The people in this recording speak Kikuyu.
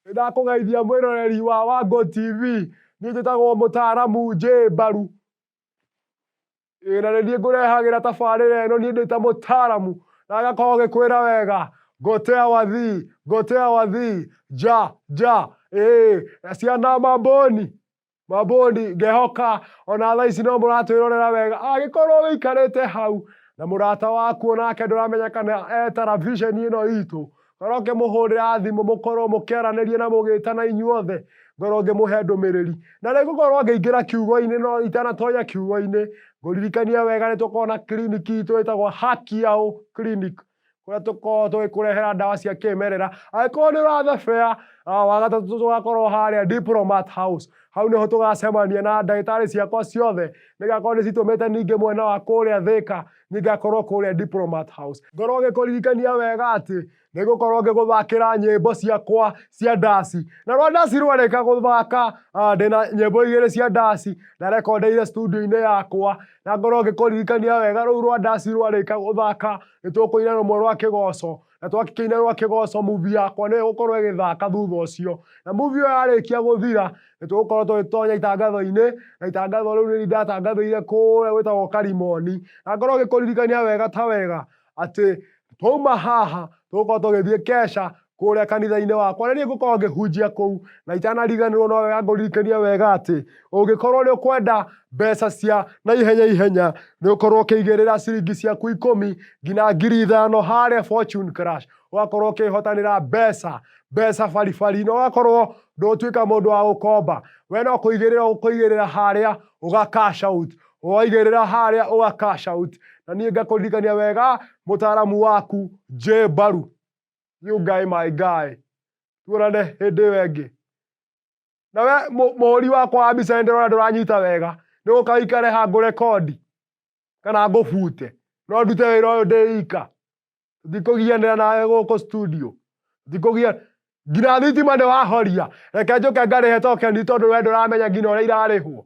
Nĩndakũgeithia mwĩroreri wa Wangũ TV. Niĩ njĩtagwo mũtaaramu J Mbaru. Ĩĩ na nĩ niĩ ngũrehagĩra tabarĩra ĩno niĩ ndĩta mũtaaramu na agakorwo gĩkwĩra wega gotea wathi gotea wathi ja ja ĩĩ ciana mambũni. mabũndi ngehoka ona thaa ici no mũratwĩrorera wega angĩkorwo wĩikarĩte hau na mũrata waku onake ndũramenya kana e taravisheni ĩno itũ korwo ngĩmũhũrĩra thimũ mũkorwo mũkĩaranĩria na mũgĩtana inyuothe ngorwo ngĩmũhe ndũmĩrĩri na rĩu ngũkorwo ngĩingĩra kiugo-inĩ no itanatonya kiugo-inĩ ngũririkanie wega nĩ tũkorwo na kiriniki itũ ĩtagwo hakiao clinic kũrĩa tũkoragwo tũgĩkũrehera ndawa cia kĩmerera angĩkorwo nĩ ũrathebea ah, wagatatũ tũgakorwo harĩa diplomat house hau nĩho tũgacemania na ndagĩtarĩ ciakwa ciothe nĩgakorwo nĩcitũmĩte ningĩ mwena wa kũrĩa thĩka ningakorwo kũrĩa diplomat house ngorwo ngĩkũririkania wega atĩ nĩgũkorwo ngĩgũthakĩra nyĩmbo ciakwa cia ndaci na rwa ndaci rwarĩka gũthaka ah, ndĩna nyĩmbo igĩrĩ cia ndaci na rekondeire studio-inĩ yakwa Na ngorwo ngĩkũririkania wega rũu rwa ndasi rwarĩka gũthaka, nĩ tũkũina rũmwe rwa kĩgoco. Na twakĩkĩina rwa kĩgoco, muvi yakwa nĩ ĩgũkorwo ĩgĩthaka thutha ũcio. Na muvi ĩyo yarĩkia gũthira, nĩ tũgũkorwo tũgĩtonya itangatho-inĩ, na itangatho rĩu nĩ ndatangathĩire kũrĩa gwĩtagwo Karimoni. Na ngorwo ngĩkũririkania wega ta wega, atĩ twauma haha tũgũkorwo tũgĩthiĩ kesha kũrĩa kanitha-inĩ wakwa na niĩ ngũkorwo ngĩhunjia kũu na itanariganĩrwo no wega ngũririkanie wega atĩ ũngĩkorwo nĩ ũkwenda mbeca cia na ihenya ihenya nĩ ũkorwo ũkĩigĩrĩra ciringi ciaku ikũmi nginya ngiri ithano harĩa fortune crash ũgakorwo ũkĩhotanĩra mbeca mbeca baribari na ũgakorwo ndũtuĩka mũndũ wa gũkomba we no kũigĩrĩra ũkũigĩrĩra harĩa ũga cash out waigĩrĩra harĩa ũga cash out na niĩ ngakũririkania wega mũtaaramu waku J Mbaru you guy my guy tuonane hĩndĩ ĩyo ĩngĩ na we mũ- mũhũri wakwa wa mbica nĩ ndĩrona ndũranyita wega nĩ gũkaikare ha ngũrekondi kana ngũbute no ndute wĩra ũyũ ndĩ ika ndikũgianĩra nawe gũkũ studio ndikũgia nginya thitima nĩ wahoria reke njũke ngarĩhe tokeni tondũ we ndũramenya nginya ũrĩa irarĩhwo